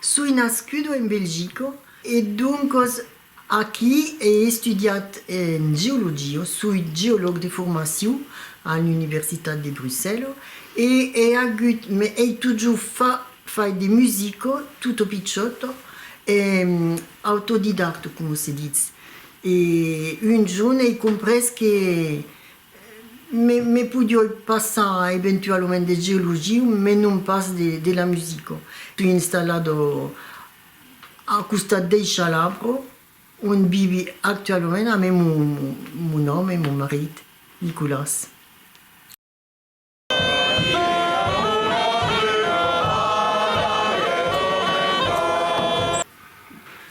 Soi nascudo en Belgico e doncos aquí ei estudiat en geologio, soi geològ de formacion a l'Universitat de Brussèlo e ei agut me ei totjor fa fai de musico tutto picciotto e autodidacto como se ditz e un jorn ei comprés que Me podioi passar eventualament de geologiu, mes non pas de la musica. Soi installat au costat dei Chalabro, ont vivi actualament amé mon òme, mon marit, Nicolas.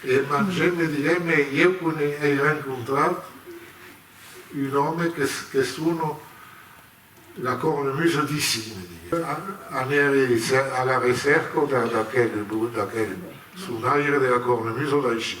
E mangé me didé me ieu qu'n ei rencontrat un òme qu'es sono la cornemusa d'ici, me didé. Anèri a la recèrca d'aquel sonaire de la cornemusa d'aicí.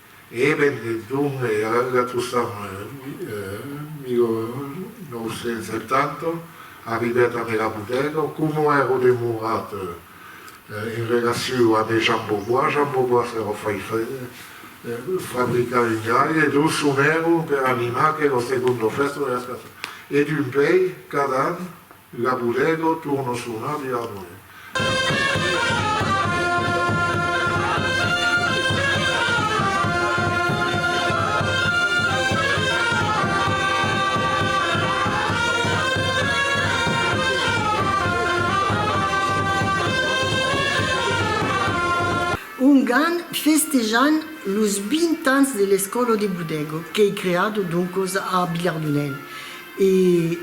E ben didon, e ara la trosam 1970, arribèt a Mèla Bodega, coma èra demorat en relaciu a de Jan Beauvois, Jan Beauvois èra fai fabricar un gai e dus sonèron per animar que lo segon d'ofèsta o era escasada. E d'un pei, cada an, La bodega torna sonar de harmonie. Ongan festejant los 20 ans de l'escòla de bodega qu'ei creada doncas a Vilhardonèl e.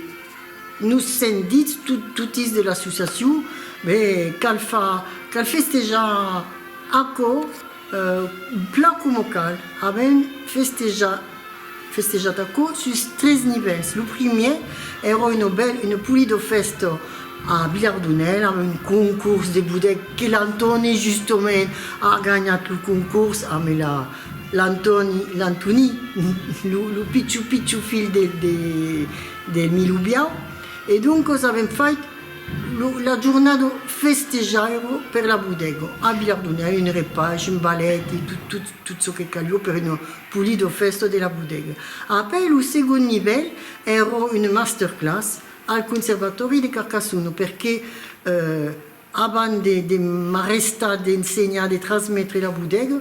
Nos sendits totis de l'associacion, be cal far, cal festejar aquò plan coma cal. Avèm festejat, festejat aquò sus tres nivèls. Lo primièr èra una bèl, una polida fèsta a Vilardonèl amb un concors de bodèc que l'Antòni justament a ganhat lo concors amb la, l'Antòni, l'Antoní, lo pitjor, pitjor filh de, de Milubiau e doncos avèm fait lo la jornada festejairo per la bodega a Vilardonha un repais un balèt e tot tot tot çò que calió per una polida fèsta de la bodega après lo segond nivèl èra una masterclass al conservatòri de Carcassona perqué Abans de de m'arrestar d'ensenhar de transmetre la bodega,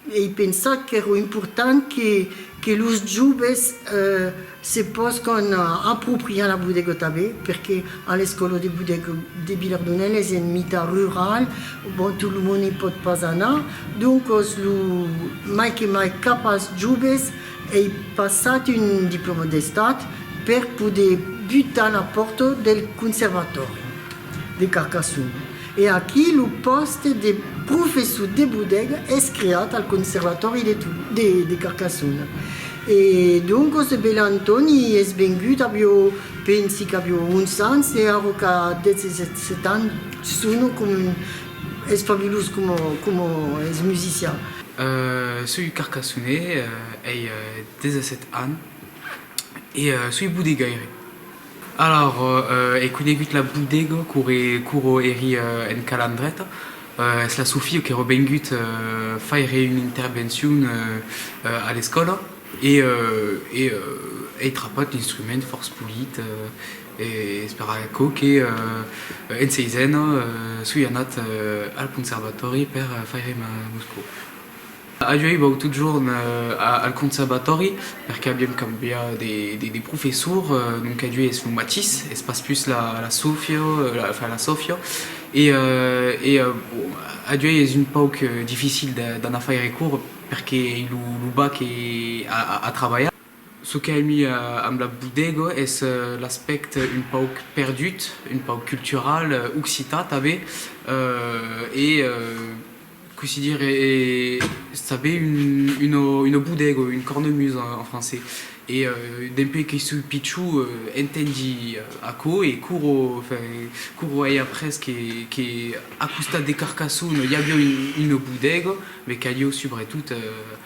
ei pensat qu'èro important que que los joves se pòscan apropriar la bodega tanben, perque a l'escòla de bodega de Vilardonèl es en mitat rural, bon tot lo monde i pòt pas anar, doncos lo mai que mai cap als joves, Ei passat un diploma d'Estat per poder butar la pòrta del Conservatòri de Carcassonne e aquí lo pòste de professor de bodega es creat al Conservatòri de Carcassonne e doncas de Bèla Antòni es vengut avió pensi qu'avió 11 ans e ara qu'a 17 ans sona coma un es fabulós coma es musician. Soi Carcassonais, ei 17 ans e soi bodegaire. Alors ei conegut la bodega qu'auro eri en Calandreta, es la Sofia qu'auro vengut faire un intervencion a l'escòla e ei trapat l'instrument fòrç polit. E espèra aquò que en seisena soi anat al conservatòri per faire ma muscu. Avioi vòut totjorn al conservatòri per qu'aviam cambiat de professor, donc avioi es lo matís, es pas pus la Sofia, enfin la Sofia e avioi es un pauc dificil d'anar faire cours perque lo bac e a trabalhar. Çò qu'a emi amb la Bodega es l'aspèct un pauc perdut, un pauc cultural, occitan tanben, e cossí dire, es tanben una bodega, une cornemuse en francés, e dempè que soi pichon entendi aquò e couro, enfin, couro ai après que a costat de Carcassona i aviá una bodega, me qu'aviá subretot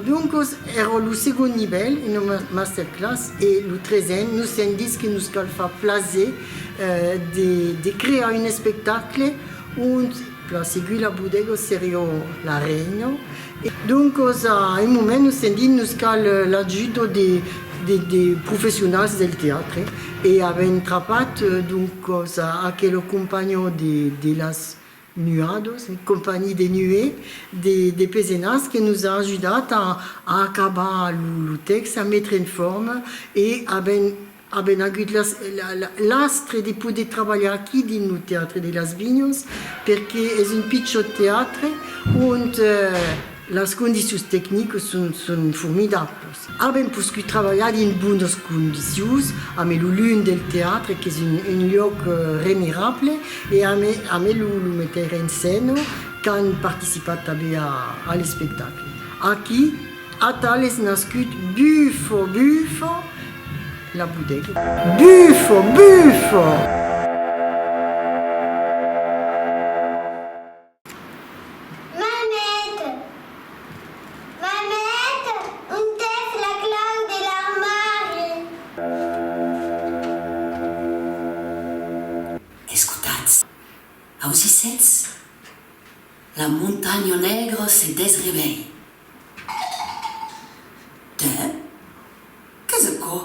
Doncos èra lo segond nivèl, una masterclass, e lo tresen nos sèm dits que nos cal far plaser de crear un espectacle ont la Seguir la Bodega seriá la reina Doncos a un moment nos sentím nos cal l'ajuda de professionals del teatre e avèm trapat doncos a aquela companha de las nuadas, compagnie des nuées, de Pezenas que nos a ajudat a acabar lo tèxt, a metre en forma e avèm Avèm agut l'astre de poder trabalhar aquí dins lo Teatre de las Vinhas perque es un pichòt teatre ont las condicions tecnicas son formidablas. Avèm poscut trabalhar dins bonas condicions amé lo lum del teatre qu'es un luòc remirable e amé lo meteire en scèna qu'an participat tanben a l'espectacle. Aquí Atal es nascut Bufo, Bufo, la pudèc. Bufo! Bufo! Mamèt! Mamèt! Ont es la clau de l'armari? Escotatz! Ausissètz? La montanha negra se desrevelh. Tè? Qu'es aquò?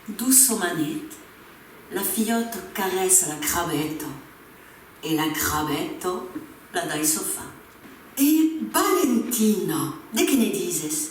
Doçomanet, la filhòta caressa la crabeta e la crabeta la dai sofa. E Valentina, de qué ne dises?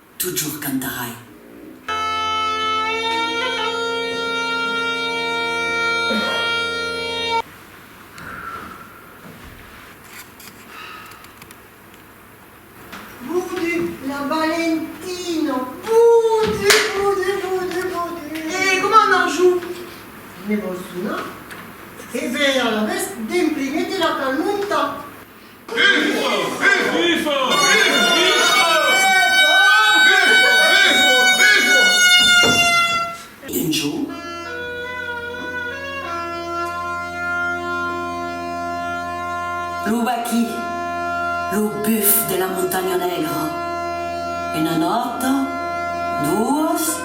Totjorn cantarai. Budu, la Valentina, budu, budu, budu, budu. E coma Marjou? Ne vòs una? E be, alavetz, demprimete la calmonta. Lo vaquí, lo buf de la Montanha Negra, una nòta, doas.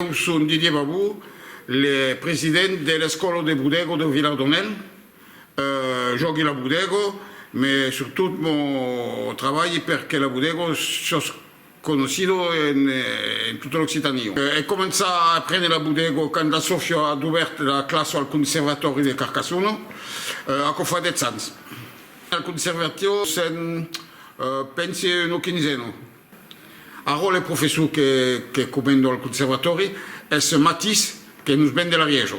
Eu son Didier Babou, le president de l'Escòla de Bodego de Vilardonèl. Jògui la Bodego, me surtot mo trabalhi per que la Bodego siós conocido en tota l'Occitania. È començat a aprene la Bodego quand la Sofia a dubèrt la classa al Conservatòri de Carcassona, aquò fa dètz ans. Al Conservatio sèm, pense, una quinzena. Arrò le professor que comendo al conservatòri es ce matís que nos ven de l'Arièjo.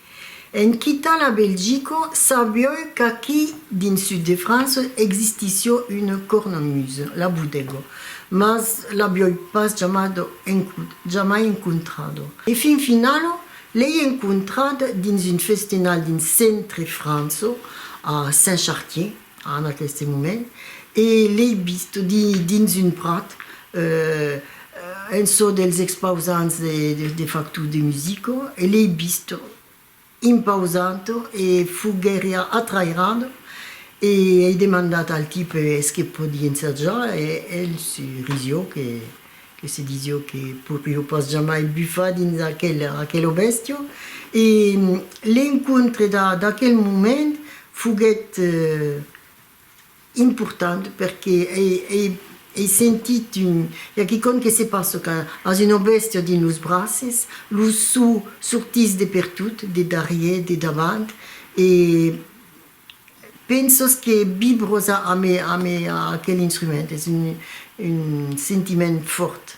En quitar la Belgica, sabioi qu'aquí dins sud de França existissió una cornemuse, la bodega, mas l'abioi pas jamad encut, jamai encontrada. E fin finala, l'ei encontrada dins un festenal dins centre França, a Saint-Chartier. En aqueste moment, e l'ei vist dins un prat, en çò dels expausants de facto de Musico, e l'ei vist impausant e foguèri atrairant, e ei demandat al tipe es que pòdi ensajar, e el se risióc e. que se disio que poirió pas jamai bufar dins aquel aquel obestió e l'encontre d'a d'aquel moment foguèt important perque ei ei ei sentit un i a quicòm que se passa quand as un obestió dins los braces lo so sortís de pertot de darrièr de davant e Pensos que bibrosa a me a me a aquel instrument es un un sentiment fòrt.